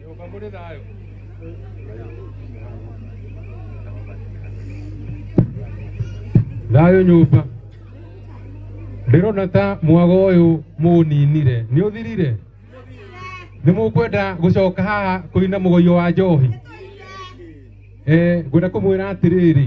Nyũmba mũrĩ thayũ. Thayũ nyũmba. Ndĩrona ta mwago ũyũ mũninire. Nĩ ũthirire? Nĩ mũkwenda gũcoka haha kũina mũgoio wa njohi? Eh, ngwenda kũmwĩra atĩrĩrĩ,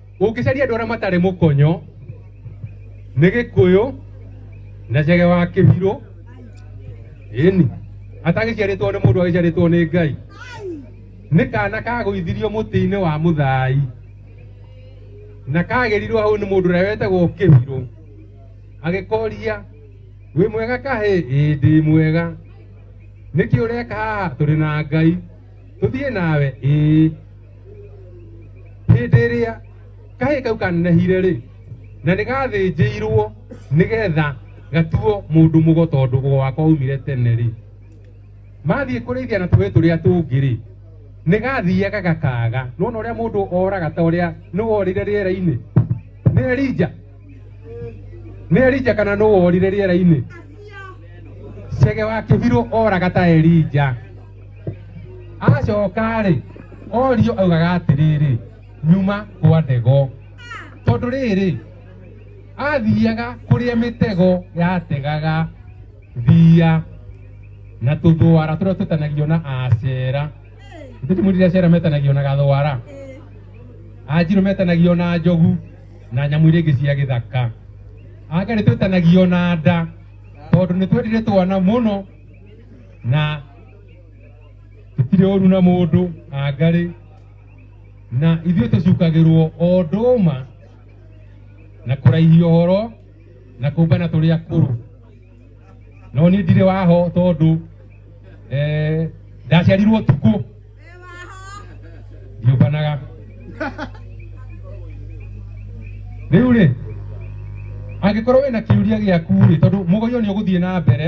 Ũngĩcaria andũ arĩa matarĩ mũkonyo nĩ gĩkũyũ na cege wa kĩbirũ ĩni atagĩciarĩtwo nĩ mũndũ agĩciarĩtwo nĩ Ngai nĩ kana kagũithirio mũtĩ-inĩ wa mũthai na kagĩrirwo hau nĩ mũndũ ũrĩa wetagwo kĩbirũ agĩkoria wĩ mwega kahĩ ĩĩ ndĩ mwega nĩkĩ ũreka haha tũrĩ na Ngai tũthiĩ nawe ĩĩ hĩndĩ ĩrĩa kahĩ kau kanenehire rĩ na nĩ gathĩnjĩirwo nĩgetha gatuo mũndũ mũgo tondũ ũgo wakwa umire tene rĩ mathiĩ kũrĩithia na tũĩ tũrĩa tũngĩ rĩ nĩ gathiaga gakaga nona ũrĩa mũndũ oraga ta ũrĩa nĩ worire rĩera-inĩ nĩ erija nĩ erija kana nĩ worire rĩera-inĩ cege wa kĩbirũ oraga ta erija acoka-rĩ orio augaga atĩrĩrĩ nyuma kwa ndego tondũ rĩrĩ athiaga kũrĩa mĩtego yategaga thia na tũthwara tũrĩa tũtanagio na acera ithuĩ tũmwĩrire acera metanagio na gathwara anjirũ metanagio na njogu na nyamũ iria ingĩ cia gĩthaka angarĩ twĩtanagio na nda tondũ nĩ twendire twana mũno na tũtirĩ ũru na mũndũ angarĩ na ithuĩ tũcukagĩrwo o ndũma na kũraihia ũhoro na kũmbana tũrĩ akũrũ no niĩ ndirĩ waho tondũ eh, ndaciarirwo tukũ ndiũmbanaga rĩu rĩ angĩkorwo wĩna kĩũria gĩaku rĩ tondũ mũgoyo nĩ ũgũthiĩ na mbere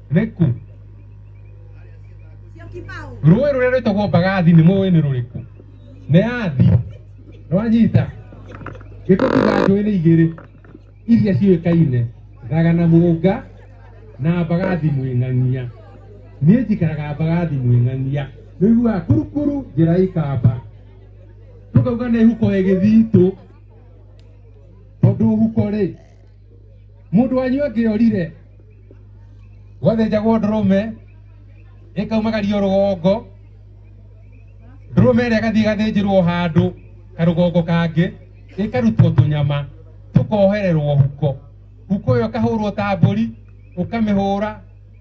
Reku. Rũĩ rũrĩa rwĩtagwo Mbagathi nĩ mũĩ nĩ rũrĩkũ? Nĩ yathi. Nĩwanyita? Gĩtũtuga njũĩ nĩ igĩrĩ iria ciũĩkaine thaga na mũnga na mbagathi mwĩng'ang'ia niĩ njikaraga mbagathi mwĩng'ang'ia nĩiguaga kurukuru njĩra ikamba tũkauga nĩ huko ĩgĩthitũ tondũ huko rĩ mundu wanyu angiorire gwathenjagwo ndũrũme ĩkaumagario rũgongo ndũrũme ĩrĩa ĩgathiĩ ĩgathĩnjĩrwo handũ karũgongo kangĩ ĩkarutwo tũnyama tũkohererwo huko huko ĩyo ĩkahũrwo ta mbũri ũkamĩhũra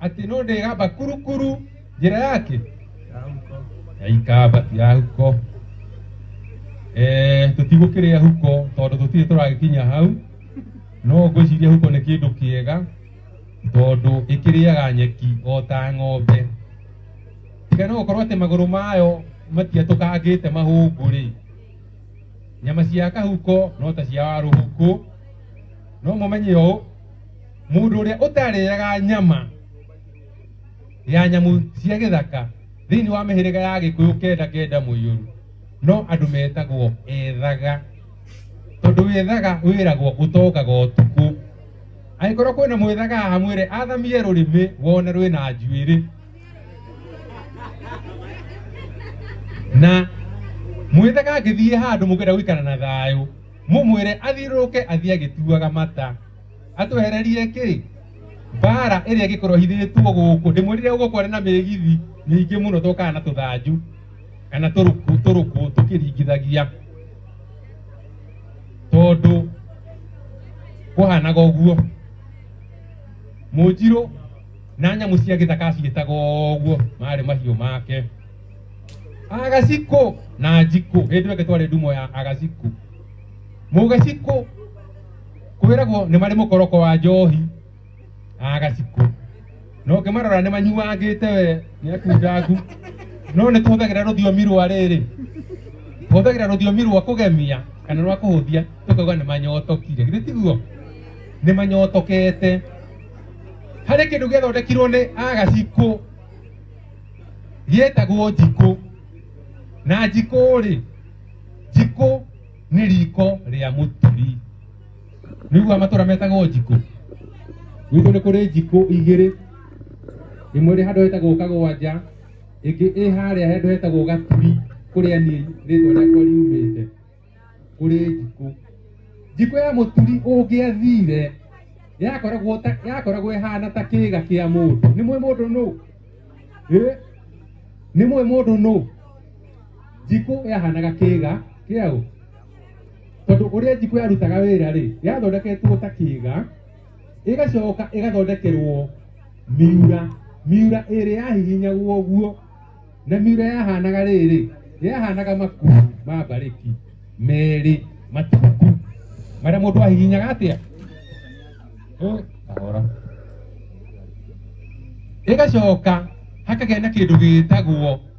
Ati no ndigamba kurukuru njira yake ya ikamba ti ya huko eh tutigukiria huko tondu tutire turagikinya hau no ngwiciria huko ni kindu kiega tondu ikiriaga nyeki o ta ng'ombe tiga no gukorwo atä magå rå mayo matiatå kangä te mahångå rä nyama cia kahuko no ta cia warå huku no må menye å Mũndũ ũrĩa ũtarĩaga nyama ya nyamũ cia gĩthaka thĩinĩ wa mĩhĩrĩga ya gĩkũyũ kenda kenda mũiyũru no andũ metagwo ethaga tondũ wethaga wĩragwo ũtokaga ũtukũ angĩkorwo kwĩna mwethaga haha mwĩre athamie rũrĩmĩ wone rwĩna njuĩrĩ na mwethaga angĩthiĩ handũ mũkenda gũikara na thayũ mũmwĩre athiũrũrũke athiĩ agĩtuaga mata atwehererie kĩ mbara ĩrĩa ĩngĩkorwo hithĩtwo gũkũ ndĩmwĩrire gũkũ arĩ na mĩgithi mĩingĩ mũno tũkaga na tũthanju kana tũrũkũ tũrũkũ tũkĩringithagia tondũ kũhanaga ũguo mũnjirũ na nyamũ cia gĩthaka ciĩtaga ũguo marĩ mahiũ make agacikũ na njikũ hĩndĩ ĩyo ĩngĩ twarĩ ndumo ya agacikũ mũgacikũ kwĩragwo nĩ marĩ mũkoroko wa njohi a gacikũ no ngĩmarora nĩ manyuangĩte we nĩ akundangu no nĩ tũhũthagĩra rũthiomi rwa rĩrĩ tũhũthagĩra rũthiomi rwa kũgemia kana rwa kũhũthia tũkauga nĩ manyotokire githĩ tiguo nĩ manyotokete harĩ kĩndũ gĩathondekirwo nĩ agacikũ gĩetagwo njikũ na njikũ rĩ njikũ nĩ riko rĩa mũturi nĩigua matũra metagwo njikũ gwitũ nĩ kũrĩ njikũ igĩrĩ ĩmwe ĩrĩ handũ hetagwo kagwanja ĩngĩ ĩ harĩa handũ hetagwo gaturi kũrĩa niĩ rĩtwa rĩakwa riumĩte kũrĩ njikũ njikũ ya mũturi ũngĩathire yakoragwo ta yakoragwo ĩhana ta kĩga kĩa mũndũ nĩ mwĩ mũndũ nũ Ĩ? nĩ mwĩ mũndũ nũ njikũ yahanaga kĩga kĩaũ tondũ ũrĩa njikũ yarutaga wĩra rĩ yathondeketwo ta kĩga ĩgacoka ĩgathondekerwo miura miura ĩrĩ yahihinyagwo ũguo na miura yahanaga rĩrĩ yahanaga makuru ma mbarĩki merĩ matungu marĩa mũndũ ahihinyaga atĩa Eh, kahora ĩgacoka hakagĩa na kĩndũ gĩtagwo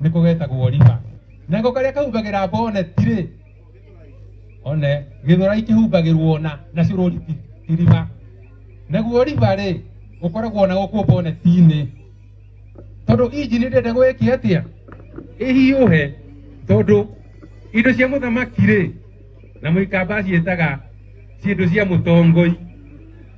niko getagwo Oliva nako karia kahumbagĩra bonnet rĩ one gĩthurai kĩhumbagĩrwo na na cũrũri ti- ti riba naguo riba rĩ ũkoragwo na gũkũ bonnet-inĩ tondũ injini ndĩenda gwĩkia atĩa ĩhiũhe tondũ indo cia mũthamaki rĩ na mũikamba ciĩtaga ciĩndũ cia mũtongoi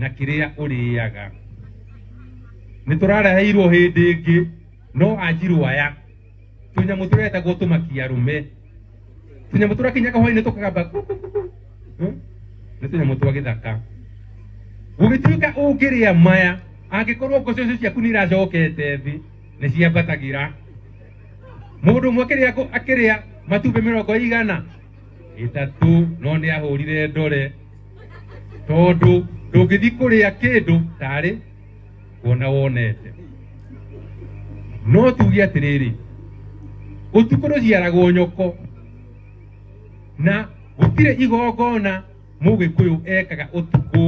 na kĩrĩa ũrĩaga nĩ tũrareheirwo hĩndĩ ĩngĩ no anjirwo aya tũnyamũ tũretagwo tũmakia rũme tũnyamũ tũrakinyaga hwainĩ tũkagamba nĩ tũnyamũ twa gĩthaka gũgĩtuĩka ũngĩrĩa maya angĩkorwo ngũcĩ ũcio ciaku nĩ iracokete thĩ nĩ ciambatagĩra mũndũ ũmwe akĩrĩa ngũ- akĩrĩa matumbĩ mĩrongo igana ĩtatũ no nĩ ahũrire ndore tondũ ndũngĩthiĩ kũrĩa kĩndũ tarĩ kuona wonete no tuge atĩrĩrĩ ũtukũ rũciaragwo nyoko na gũtirĩ igongona mũgĩkũyũ ekaga ũtukũ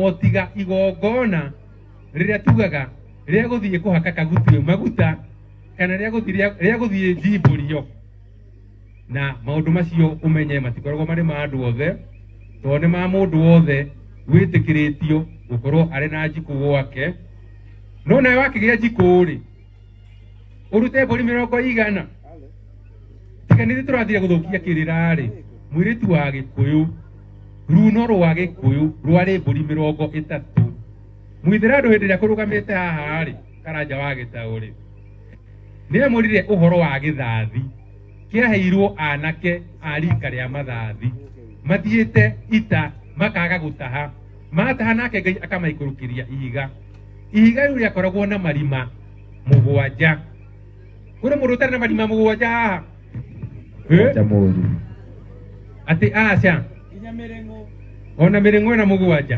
o tiga igongona rĩrĩa tugaga rĩa gũthiĩ kũhaka kagutio maguta kana rĩa gũthiĩ rĩa gũthiĩ njimbũrio na maundu macio umenye matikoragwo marĩ ma andũ othe tondũ nĩ ma mũndũ wothe wĩtĩkĩrĩtio gũkorwo arĩ na njikũ gwake no nawe wakĩgĩa njikũ rĩ ũrute mbũri mĩrongo igana tiga nĩ tũrathire gũthũkia kĩrĩra rĩ mwĩrĩtu wa gĩkũyũ runo rwa gĩkũyũ rwarĩ mbũri mĩrongo ĩtatũ mwithĩra andũ hĩndĩ ĩrĩa kũrũgamĩte haha rĩ karanja wa gĩtaũ rĩ Nĩemũrire ũhoro wa gĩthathi kĩaheirwo anake a rika rĩa mathathi mathiĩte ita makaga gũtaha mataha nake ngai akamaikũrũkĩria ihiga ihiga rĩu rĩakoragwo na marima mũgwanja kũrĩ mũndũ ũtarĩ na marima mũgwanja haha Eh? Acha mũru. atĩ aca ona mĩrĩng'o ĩna mũgwanja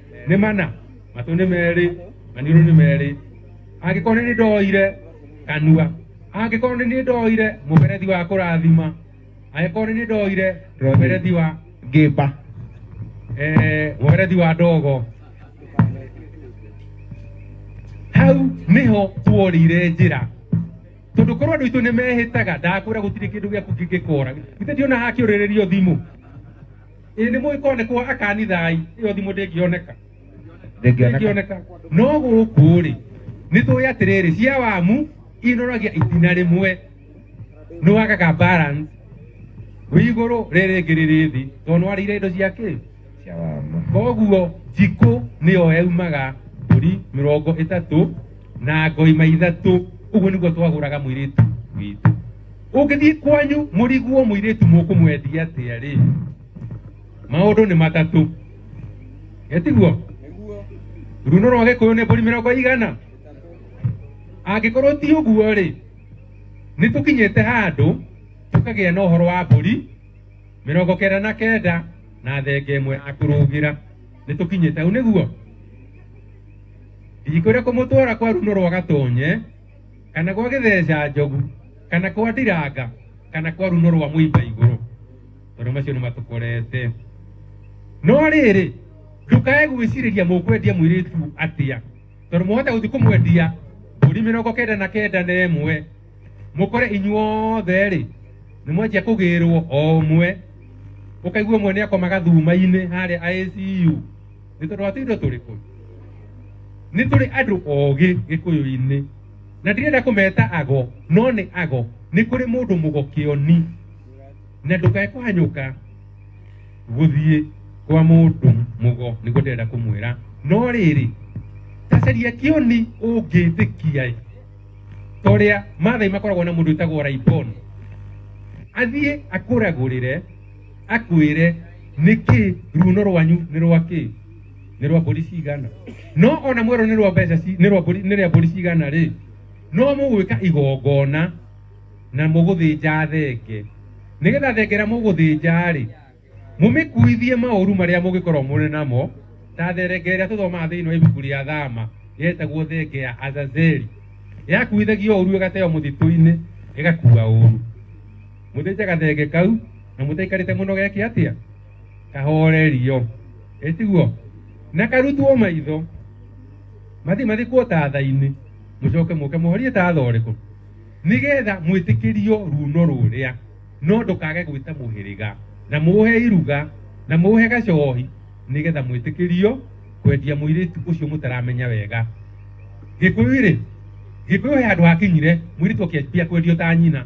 nĩ mana matũ nĩ merĩ maniũrũ nĩ merĩ angĩkorwo nĩ nĩ ndoire kanua angĩkorwo nĩ nĩ ndoire mũberethi wa kũrathima angĩkorwo nĩ nĩ ndoire mũberethi wa ngĩmba eh, mũberethi wa ndogo hau nĩho tuorire njĩra tondå korwo andå aitå nä mehä taga ndakwä ra gå tirä kä ndå gä aku kä ngä kora githä ndiona hakkä å rä rä rio thimå ĩ nĩ mũĩ konekwo akanithai ĩyo thimũ ndĩngĩoneka ndĩngĩoneka ndĩngĩoneka no gũkũ rĩ nĩ tũĩ atĩrĩrĩ cia wamu inoragia itina rĩmwe nĩ wagaga balance wĩ igũrũ rĩrĩ rĩngĩ rĩrĩ thĩ tondũ nĩ warĩire indo cia kĩ cia wamu koguo njikũ nĩyo yaumaga mbũri mĩrongo ĩtatũ na ngoima ithatũ ũguo nĩguo twagũraga mũirĩtu witũ ũngĩthiĩ kwanyu mũriguo mũirĩtu mũkũmwendia atĩa rĩ maũndũ nĩ matatũ getiguo runo rwa gĩkũyũ nĩ mbũri mĩrongo igana angĩkorwo ti ũguo rĩ nĩ tũkinyĩte handũ tũkagĩa na ũhoro wa mbũri mĩrongo kenda na kenda na thenge ĩmwe ya kũrũgĩra nĩ tũkinyĩte hau nĩguo ndikwĩra kũmũtwara kwa runo rwa gatonye kana kwa gĩtheca njogu kana kwa ndiranga kana kwa runo rwa mũimba igũrũ tondũ macio nĩ matũkorete no rĩrĩ ndũkae gwĩcirĩria mũkwendia mũirĩtu atĩa tondũ mũhota gũthiĩ kũmwendia mbũri mĩrongo kenda na kenda na ĩmwe mũkore inyuothe rĩ nĩ mwanjia kũgĩrwo o ũmwe ũkaigua ũmwe nĩ akomaga thuma-inĩ harĩa ICU nĩ tondũ wa tuitho tũrĩ kũu nĩ tũrĩ andũ ogĩ gĩkũyũ-inĩ na ndirenda kũmeta ago no nĩ ago nĩ kũrĩ mũndũ mũgokĩoni na ndũkae kũhanyũka gũthiĩ kwa mũndũ mũgo nĩguo ndĩrenda kũmwĩra no rĩrĩ tacaria kĩoni ũngĩtĩkia ta ũrĩa mathai makoragwo na mũndũ wĩtagwo raibon athiĩ akũragũrĩre akwire niki runo rwanyu ni rwa ki ni rwa mburi cigana no ona mwero ni rwa mbeca ci- ni rwa mburi ni rwa mburi cigana ri no mugwika igongona na muguthinja thenge nigetha thengera muguthinja ri mumikuithie mauru maria mugikorwo muri namo ta therenge ĩrĩa tũthomaga thĩinĩ wa ibuku rĩa thama yetagwo thenge ya azazeli yakuithagio ũru ĩgateo mũtitũ-inĩ ĩgakua ũru Mũthĩnje gathenge kau na mũtaikarĩte mũno geke atĩa kahorerio ĩtiguo na karutwo maitho mathi mathikwo tatha-inĩ mũcoke mũke mũhorie tatha ũrĩkũ nĩgetha mwĩtĩkĩrio runo rũrĩa no ndũkage gwĩta mũhĩrĩga na mũhe iruga na mũhe gacohi nĩgetha mwĩtĩkĩrio kwendia mũirĩtu ũcio mũtaramenya wega gĩkũyũ-rĩ gĩkũyũ he handũ hakinyire mũirĩtu akĩambia kwendio ta nyina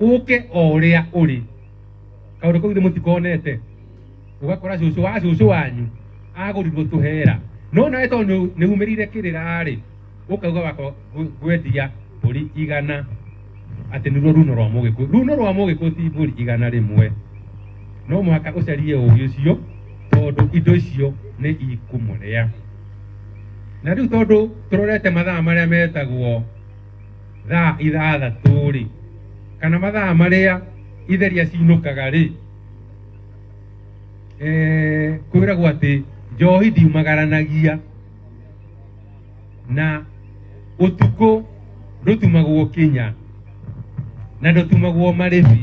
uke o uria uri kaundu kau ithe mutikonete ugakora cucu wa cucu wanyu agurirwo tuhera no nawe tondu nihumirire kirira ri ukauga wako gwetia mburi igana ati niruo runo rwa mugiku runo rwa mugiku ti mburi igana rimwe no muhaka ucarie ugi ucio tondu indo icio ni ikumuria na riu tondu turorete mathaa maria metagwo thaa ithathatũ-rĩ kana mathaa marĩa itheria cinũkaga-rĩ eh, kwĩragwo atĩ njohi ndiumagaranagia na ũtukũ ndũtumagwo kinya na ndũtumagwo marĩbi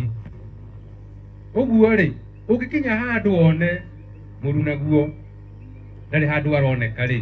ũguo-rĩ ũngĩkinya handũ one mũru naguo ndarĩ handũ aroneka-rĩ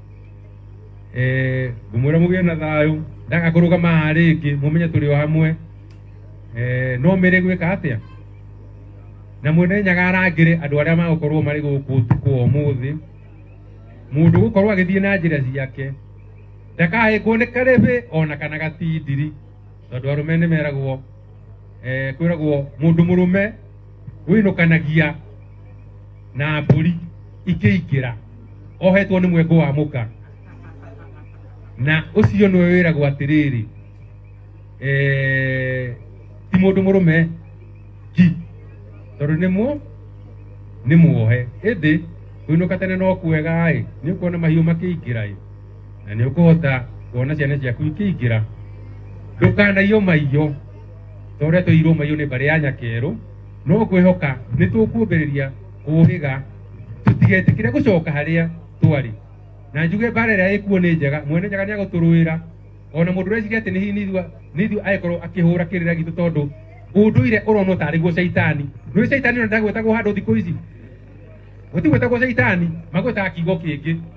eh ngumwira mugire na thayo ndaga kurugama haha ringi mumenye turi o hamwe eh no mere gwika atia na mwene nyaga arangire andu aria magukorwo mari guku utuku wa umuthi mundu gukorwo agithie na njira ciake ndakahingwo nĩ karĩbĩ ona kana gatindiri tondũ arũme nĩ meragwo eh, kwĩragwo mũndũ mũrũme gwinukanagia na mbũri ikĩingĩra ohetwo nĩ mwengo wa mũka na ũcio nĩwe wĩragwo atĩrĩrĩ eh, ti mũndũ mũrũme ki tondũ nĩ mu nĩ muohe ĩndĩ kũinũka tene no kwega ĩ nĩ ũkuona mahiũ makĩingĩra ĩ na nĩ ũkũhota kuona ciana ciaku ikĩingĩra ndũkanaiyo maiyo torĩa tũirwo maiyũ nĩ mbarĩ ya nyakerũ no kwĩhoka nĩ tũkumbĩrĩria kũhĩga tũtigetĩkĩre gũcoka harĩa twarĩ na njuge mbara ĩrĩa ĩkuo nĩ njega mwene nyaga nĩ agũtũrũĩra ona mũndũ ũreciria atĩ nĩ nithua nithua agĩkorwo akĩhũra kĩrĩra gitũ tondũ ũndũire ũronwo tarĩ guo caitani nĩ caitani ona ndagwĩtagwo handũ thikũ ici gũtigwĩtagwo caitani magwĩtaga kiugo kĩngĩ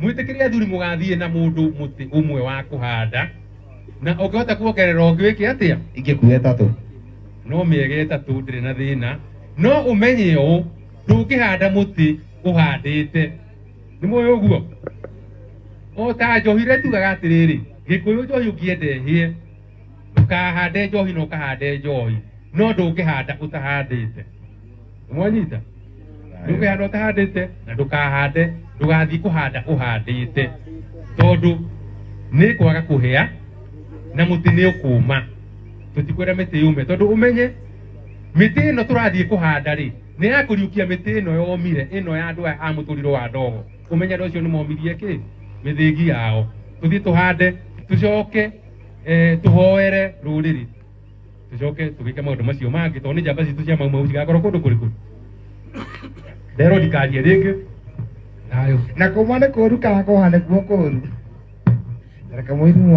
Mwĩtĩkĩrie athuri mũgathiĩ na mũndũ mũtĩ ũmwe wa kũhanda na ũngĩhota kuongerera ũngĩ wĩke atĩa? Ingĩkuua ĩtatũ. No mĩega ĩtatũ ndĩrĩ na thĩna. No ũmenye ũũ, ndũngĩhanda mũtĩ ũhandĩte. Nĩ mũĩ ũguo? O ta njohi rĩrĩa tugaga atĩrĩrĩ, gĩkũyũ njohi ũngĩenda ĩhĩe, ndũkahande njohi na ũkahande njohi, no ndũngĩhanda ũtahandĩte. mwanyita ndũkehanda ũtahandĩte na ndũkahande ndũgathiĩ kũhanda ũhandĩte tondũ nĩ kwaga kũhĩa na mũtĩ nĩ ũkũma tũtikwĩra mĩtĩ yũme tondũ ũmenye mĩtĩ ĩno tũrathiĩ kũhanda rĩ nĩ ya kũriũkia mĩtĩ ĩno yomire ĩno ya andũ aya a mũtũriro wa ndogo ũmenye andũ acio nĩ momirie kĩ mĩthĩgi yao tũthiĩ tũhande tũcoke eh, tũhoere rũrĩrĩ tũcoke tũgĩke maũndũ macio mangĩ tondũ nĩ njamba citũ cia maumau cigakorwo kũndũ kũrĩ kũrĩ nderwo ndikarie rĩngĩ nayo na kuma nĩ kũru kana kũhane kuo kũru reke mũiru